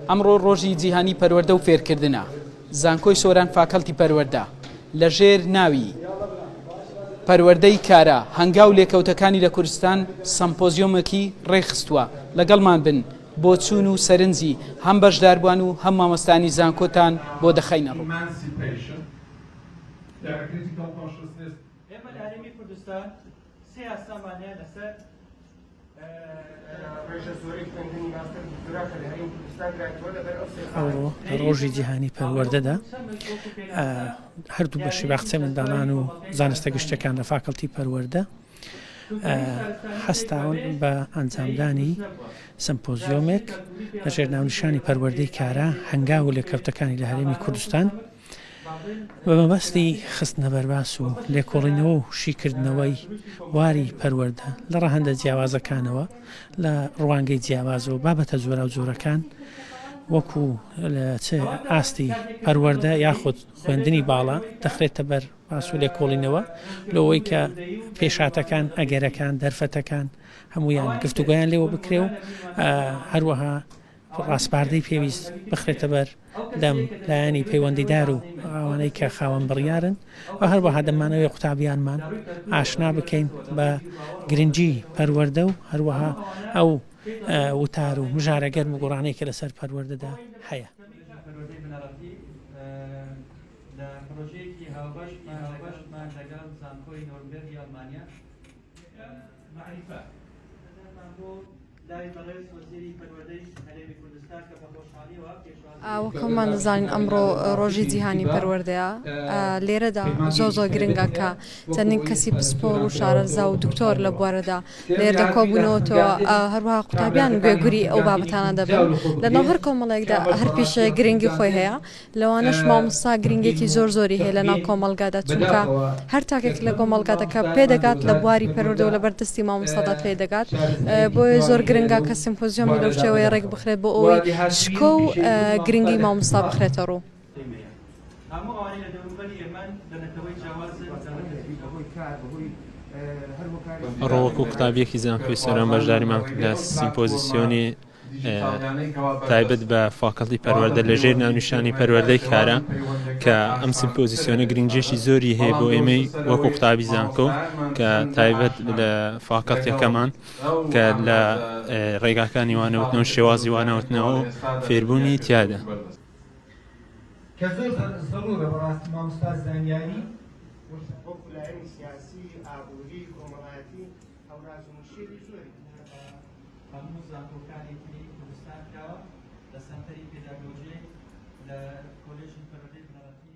ئەمڕۆ ڕۆژی جیهانی پەروەردە و فێرکردنە، زانکۆی سۆران فاکەڵتی پەروەردە لە ژێر ناوی پەروەردەی کارا هەنگاو لێکەوتەکانی لە کوردستان سەمپۆزیۆمێکی ڕێکخستووە، لەگەڵمان بن بۆچوون و سەرنجی هەم بەشداربووان و هەم مامۆستایانی زانکۆتان بۆ دەخەینەڕوو. سێ یاسامان هەیە لەسەر ڕێژە زۆری خوێندنی ماستەر دکتۆرا کە لە هەرێمی کوردستان درایتەوە لەبەر ئەو سێ ئەوڕۆ ڕۆژی جیهانی پەروەردەدا ئە، هەردوو بەشی باخچەی منداڵان و زانستە گشتیەکان لە فاکەڵتی پەروەردە ئە، هەستاون بە ئەنجامدانی سمپۆزیۆمێک لەژێر ناونیشانی پەروەردەی کارا هەنگاو و لێکەوتەکانی لە هەرێمی کوردستان. بە مەبەستی خستنەبەرباس و لێکۆڵینەوە و شیکردنەوەی بواری پەروەردە لە ڕەهەندە جیاوازەکانەوە لە ڕوانگەی جیاواز و بابەتە جۆراوجۆرەکان وەکو چ ئاستی پەروەەردە یاخود خوێندنی باڵا دەخرێتە بەر پاسو لێکۆڵینەوە لەوەی کە پێشاتەکان ئەگەرەکان دەرفەتەکان هەمویان گفتوگویان لێوە بکرێ و هەروەها ڕاسپاردەی پێویست بخرێتە بەر دەم لایەنی پەیوەندیدار و ئەوانەی کە خاوەن بڕیارن و هەروەها دەمانەوێت قوتابیانمان ئاشنا بکەین بە گرنگی پەروەردە و هەروەها ئەو وتار و مژارە گەرم و گوڕانەی کە لەسەر پەروەردەدا هەیە. پرۆژەیەکی هاوبەشمان هاوبەشمان لەگەڵ زانکۆی نۆرنبێرگی ئەڵمانیا مەعریفە لای بەڕێز وەزیری پەروەردەی هەرێمی کوردستان کە بە خۆشحاڵیەوە پێشوازی ئا وەک هەموومان دەزانین ئەمڕۆ ڕۆژی جیهانی پەروەردەیە ئا لێرەدا زۆر زۆر گرنگە کە چەندین کەسی پسپۆڕ و شارەزا و دکتۆر لە بوارەدا لێرەدا کۆبوونەوەتەوە ئا هەروەها قوتابیان گوێگری ئەو بابەتانە دەبن لەناو هەر کۆمەڵێکدا هەر پیشەیەک گرنگی خۆی هەیە لەوانەش مامۆستا گرینگێکی زۆر زۆری هەیە لەناو کۆمەڵگادا چونکە هەر تاکێک لە کۆمەڵگادا کە پێدەگات لە بواری پەروەردەوە لەبەر دەستی مامۆستادا پێ دەگات بۆیە زۆر گرنگە کە سیمپۆزیۆمی لەو شێوەیە ڕێک بخرێت بۆ ئەوەی شکۆ و گرنگی مامۆستا بخرێتە ڕوو. هەموو ئەوانەی لە دەوروبەری ئێمەن لە نەتەوەی جیاوازن بەتایبەت لە جیل بەهۆی کار بەهۆی هەر هۆکارێکی ئەڕۆ وەکوو قوتابییەکی زانکۆی سۆران بەشداریمان کرد لە سیمپۆزیسیۆنی تایبەت بە فاکەڵتی پەروەردە لە ژێر ناونیشانی پەروەردەی کارە کە ئەم سمپۆزیسیۆنە گرنگێکی زۆری هەیە بۆ ئێمەی وەکو قوتابی زانکۆ کە تایبەت لە فاکەڵتەکەمان کە لە ڕێگاکانی وانەوتنەوە شێوازی وانەوتنەوە فێربوونی تیادا. کە زۆر زەرورە بەڕاستی ماموستا زانیاری وەک لایەنی سیاسی ئابوری کۆمەڵایەتی هەوراز و مشێوی زۆری. هەموو زانکۆکانی تری کوردستان کراوە لە سەنتەری پێداگۆجیک لە کۆلێژی پەروەردەی بنەڕەتی.